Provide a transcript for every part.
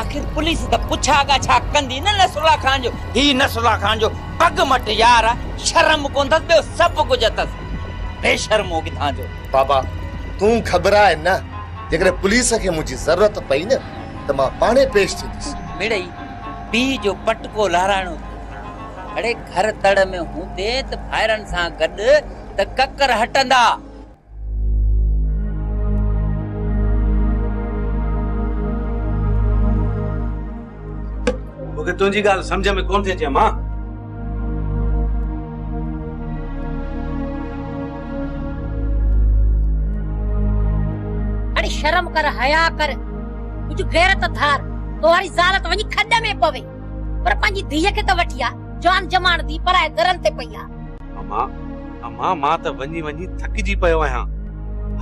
آخر پوليس ته پڇا ڳاڇا ڪندي نه نصرالله خان جو هي نصرالله خان جو پڳ مٽ يار آ شرم ڪونه اٿس ٻيو سڀ ڪجهه اٿس بي شرمو ڪٿان جو. بابا تون گهٻراء نه جيڪڏهن پوليس کي منهنجي ضرورت پئي نه ته مان پاڻهي پيش ٿيندس. مڙئي پيء جو پٽڪو لهرائڻو ٿو اڙي گهر تڙ ۾ هوندين ته ڀائرن سان گڏ ته ڪڪر هٽندا. مونکي تنهنجي ڳالهه سمجهه ۾ ڪونه ٿي اچي امان اڙي شرم ڪر حيا ڪر ڪجهه غيرت ڌار توهاري زال ته وڃي کڏ ۾ پوي پر پنهنجي ڌيء کي ته وٺي آ جان جماڻ ڌي پرائي درن تي پئي آ امان، امان مان ته وڃي وڃي ٿڪجي پيو آهيان.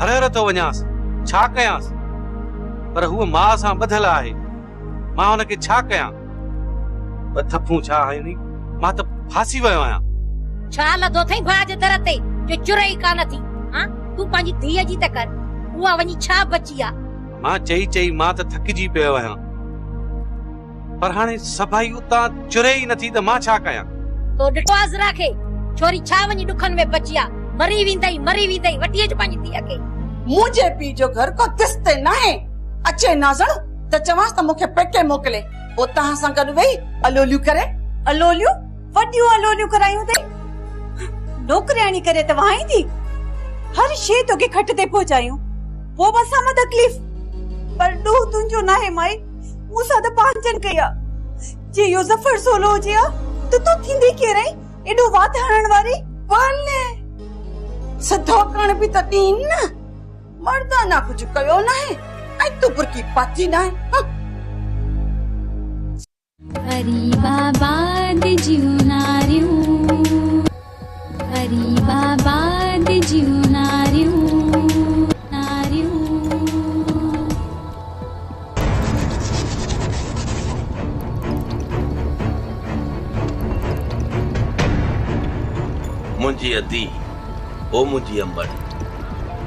هر هر ٿو وڃانس، ڇا ڪيانس؟ پر هوء ماء سان ٻڌل آهي، مان هن کي ڇا ڪيان؟ ٻه ٿڦون ڇا هڻي، مان ته ڦاسي ويو آهيان. ڇا لڌو اٿئي ڀاء جي در تي جو چرئي ئي ڪانه ٿي؟ ها، تون پنهنجي ڌيء جي ته ڪر، اها وڃي ڇا بچي آ؟ امان چئي چئي مان ته ٿڪجي پيو آهيان. پر هاڻي سڀائي اتان چري ئي نٿي ته مان ڇا ڪيان؟ تو ڏٺو آ زرا کي؟ ڇوري ڇا وڃي ڏکن ۾ پچي آ. مري ويندئي، مري ويندئي، وٺي اچ پنهنجي ڌيء کي. منهنجي پيء جو گهر ڪو تس تي ناهي. اچي نازڻ ته چوانس ته مون کي پيڪي موڪلي، پوء توهان سان گڏ ويهي الوليون ڪري. الوليون؟ وڏيون الوليون ڪرايون اٿئي. نوڪرياڻي ڪري ته وهائيندي. هر شيء توکي کٽ تي پهچايون. پوء به اسان مان تڪليف. پر ڏوهه تنهنجو ناهي مائي. مون سان ته پانجن ڪئي آ، جي اهو ظفر سولو هجي ها ته تون ٿيندي ڪير آهين، ايڏو وات هڻڻ واري؟ ول سڌاڪڻ به ته ڏين نه، مردانه ڪجهه ڪيو ناهي ۽ تون برقعي پاتي ناهي، هه. غريب آباد جون ناريون. غريب آباد جون ناريون منهنجي ادي او منهنجي امڙ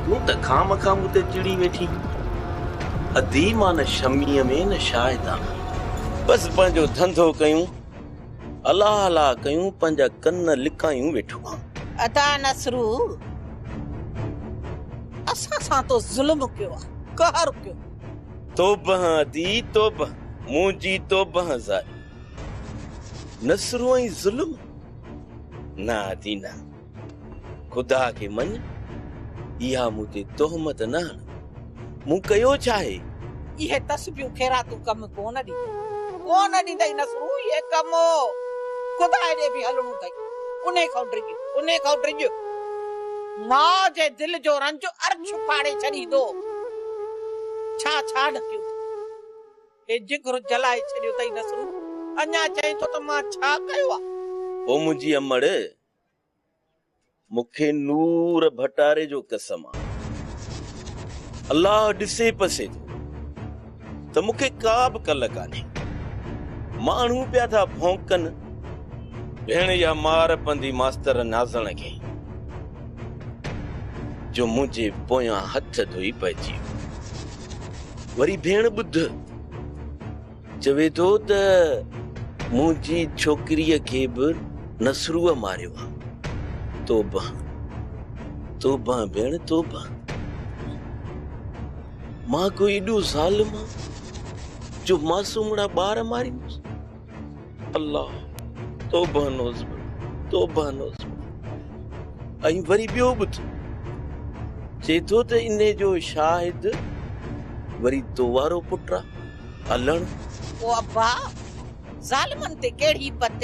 تون ته خامخا مون تي چڙي ويٺين ادي مان نه شميء ۾ نه شاهدان بس پنهنجو ڌنڌو ڪيون. الا الا ڪيون پنهنجا ڪن لڪايون ويٺو آن. ادا نصرو اسان سان تو ظلم ڪيو آ قهر ڪيو. توبه ادي توبه منهنجي توبه زاري نصرو ۽ ظلم نه ادي نه. خدا کي مڃ، اها مون تي تهمت نه هڻ، مون ڪيو ڇا آهي؟ اهي تسبيون خيراتون ڪم ڪونه ڏينديون. ڪونه ڏيندئي نصرون اهي ڪم. خدا ڏي به هلڻو اٿئي. انهي کان ڊڄ، انهي کان ڊڄ. ماء جي دل جو رنج عرش ڦاڙي ڇڏيندو. ڇا ڇا ڍڪيو اٿئي. هي جگرو جلائي ڇڏيو اٿئي نصرون. اڃا چئين ٿو ته مان ڇا ڪيو آهي. هو منهنجي امڙ مون کي نور ڀٽاري جو قسم آ الله ڏسي پسي ٿو ته مون کي ڪا به ڪل ڪانهي ماڻهو پيا ٿا ڀونڪن ڀيڻ يا مار پندي ماستر نازڻ کي جو منهنجي پويان هٿ ڌوئي پئجي وري ڀيڻ ٻڌ چوي ٿو ته منهنجي ڇوڪريء کي به نصروء ماريو آ. توبه توبه ڀيڻ توبه مان ڪو ايڏو ظالم آ جو معصومڙا ٻار ماريندس الله توبه نوز توبه نوز ۽ وري ٻيو به ٿيو چي ٿو ته انهي جو شاهد وري تو وارو پٽ آ الڻ. او ابا! ظالمن تي ڪهڙي پت؟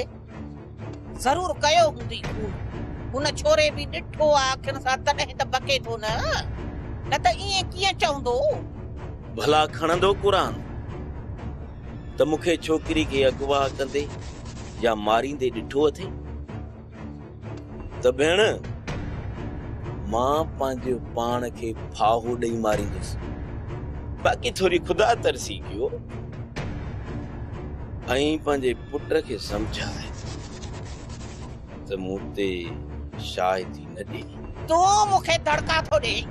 ضرور ڪيو هوندئي خون. هن ڇوري به ڏٺو آ اکين سان تڏهن ته بڪي ٿو نه. نه ته ائين ڪيئن چوندو؟ ڀلا کڻندو قرآن ته مون کي ڇوڪري کي اغوا ڪندي يا ماريندي ڏٺو اٿئي؟ ته ڀيڻ، مان پنهنجي پاڻ کي ڦاهو ڏئي ماريندس. باقي ٿوري خدا ترسي ڪيو ۽ پنهنجي پٽ کي سمجهاء ته مون تي شاهدي نه ڏي. تون مون کي دڙڪا ٿو ڏيئين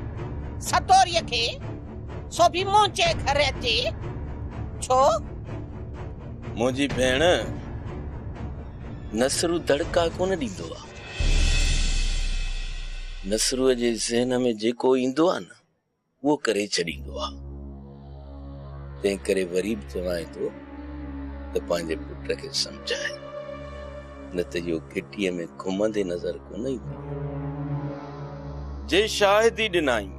سدوريء کي، سو به منهنجي گهر اچي. ڇو؟ منهنجي ڀيڻ! نصرو دڙڪا ڪونه ڏيندو آ. نصرو جي ذهن ۾ جيڪو ايندو آ نه اهو ڪري ڇڏيندو آ. تنهن ڪري وري به چوانء ٿو ته پنهنجي پٽ کي سمجهاء نه ته اهو گهٽيء ۾ گهمندي نظر ڪونه ايندو. جي شاهدي ڏنائين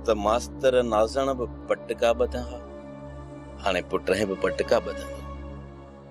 ته ماستر نازڻ به پٽڪا ٻڌا ها، هاڻي پٽهين به پٽڪا ٻڌندو.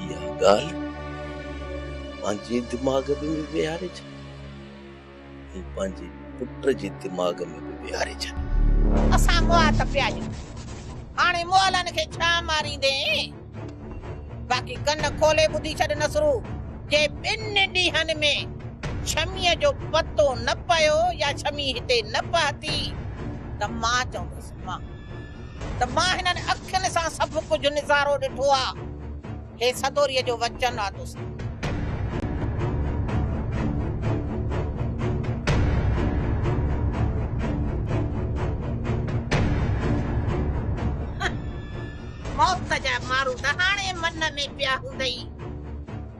اها ڳالهه پنهنجي دماغ ۾ به ويهاري ڇڏ ۽ پنهنجي پٽ جي دماغ ۾ به ويهاري ڇڏ. اسان مئات پيا آهيون. هاڻي مئلن کي ڇا ماريندين؟ باقي ڪن کولي ٻڌي ڇڏ نصرو، جي ٻن ڏينهن ۾ ڇميء جو پتو نه پيو يا ڇمي هتي نه پهتي ته مان چوندس مان. ته مان هنن اکين سان سڀ ڪجهه نظارو ڏٺو آ. هي سدوريء جو وچن آ دوستو. موت جا مارو ته هاڻي من ۾ پيا هوندئي.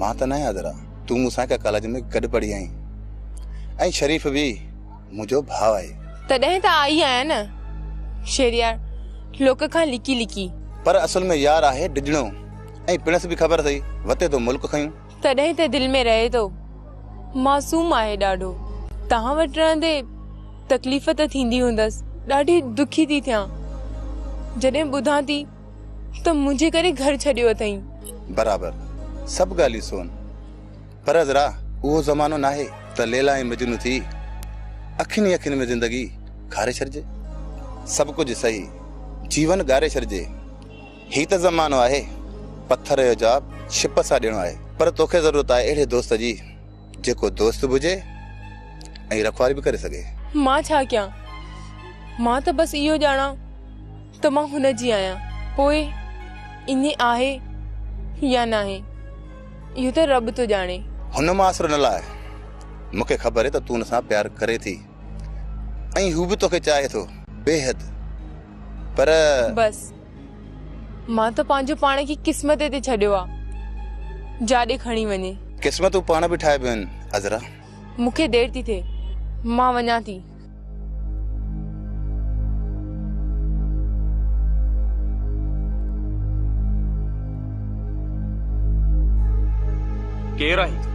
مان ته نه ياد رھان. تون مون سان ھڪ ڪاليج ۾ گڏ پڙھي آھين ۽ شريف به منھنجو ڀاء آھي. تڏھن ته آئي آھيان نه شھريار لوڪ کان لڪي لڪي. پر اصل ۾ يار آھي ڊڄڻو ۽ پڻس به خبر اٿئي وتي ٿو ملڪ کنيون. تڏھن ته دل ۾ رھي ٿو معصوم آھي ڏاڍو. توھان وٽ رھندي تڪليف ته ٿيندي ھوندس. ڏاڍي ڏکي ٿي ٿيان جڏھن ٻڌان ٿي. ته منهنجي ڪري گهر ڇڏيو اٿئين. برابر سڀ ڳالهيون سون پر عذرا اهو زمانو ناهي ته ليلا ۽ مجنون ٿي اکين ئي اکين ۾ زندگي کاري ڇڏجي. سڀ ڪجهه سهي جيون ڳاري ڇڏجي. هي ته زمانو آهي پٿر جو جواب ڇپ سان ڏيڻو آهي. پر توکي ضرورت آهي اهڙي دوست جي جيڪو دوست به هجي ۽ رکواري به ڪري سگهي. مان ڇا ڪيان؟ مان ته بس اهو ڄاڻان ته مان هن جي آهيان، پوء ائين آهي يا ناهي، اهو ته رب ٿو ڄاڻي. هن مان آسرو نه لاء، مون کي خبر هي ته تون هن سان پيار ڪرين ٿي ۽ هو به تو کي چاهي ٿو بيحد، پر. بس، مان ته پنهنجو پاڻ کي قسمت تي ڇڏيو آ، جا ڏي کڻي وڃي. قسمتون پاڻ به ٺاهبيون آهن عذرا. مون کي دير ٿي ٿئي، مان وڃان ٿي. ڪير آهين تون؟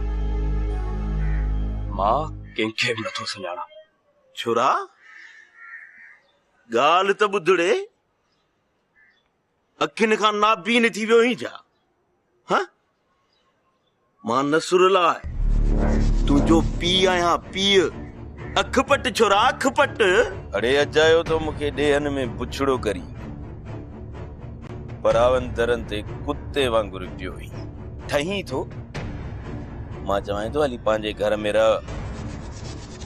مان ڪنهن کي به نٿو سڃاڻان. ڇورا، ڳالهه ته ٻڌڙي، اکين کان نابين ٿي ويو آهين ڇا؟ مان نصرالله تنهنجو پيء آهيان، پيء! اک پٽ ڇورا، اک پٽ! اڙي اجايو تو مون کي ڏيهن ۾ بڇڙو ڪرين پراون درن تي ڪتي وانگر پيو ويهين. ٺهين ٿو؟ مان چوانء ٿو هلي پنهنجي گهر ۾ رهه،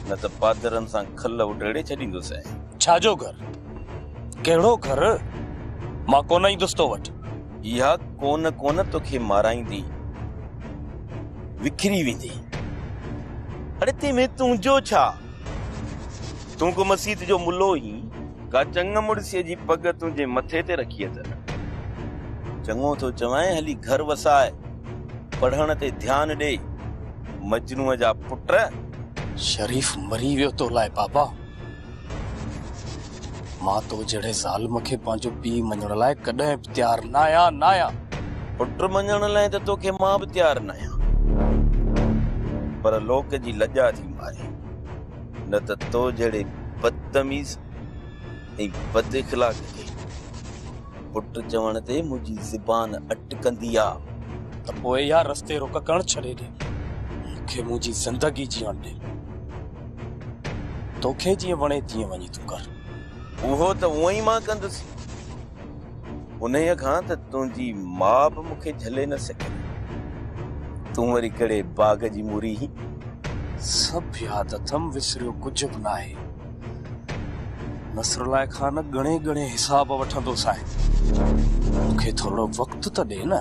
نه ته پادرن سان کل اڊيڙي ڇڏيندوسين. ڇا جو گهر؟ ڪهڙو گهر؟ مان ڪونه ايندس تو وٽ. اها ڪون ڪون توکي مارائيندي وکري ويندي. اڙي تنهن ۾ تنهنجو ڇا؟ تون ڪو مسيت جو ملو هين؟ ڪا چڱ مڙسيء جي پڳ تنهنجي مٿي تي رکي اٿن. چڱو ٿو چوانء هلي گهر وساء، پڙهڻ تي ڌيان ڏي، مجنوء جا پٽ. شريف مري ويو تو لاء بابا. مان تو جهڙي ظالم کي پنهنجو پيء مڃڻ لاء ڪڏهن به تيار نه آهيان، نه آهيان. پٽ مڃڻ لاء ته توکي مان به تيار نه آهيان، پر لوڪ جي لڄا ٿي ماري، نه ته تو جهڙي بدتميز ۽ بد اخلاق کي پٽ چوڻ تي منهنجي زبان اٽڪندي آ. ته پوء اها رستي رڪ ڪرڻ ڇڏي ڏي، مون کي منهنجي زندگي جيئڻ ڏي. توکي جيئن وڻي تيئن وڃي تون ڪر. اهو ته اونئن ئي مان ڪندس، انهيء کان ته تنهنجي ماء به مون کي جهلي نه سگهي. تون وري ڪهڙي باغ جي موري هين؟ سڀ ياد اٿم، وسريو ڪجهه به ناهي. نصرالله کان ڳڻي ڳڻي حساب وٺندو سانء. مون کي ٿورڙو وقت ته ڏي نه.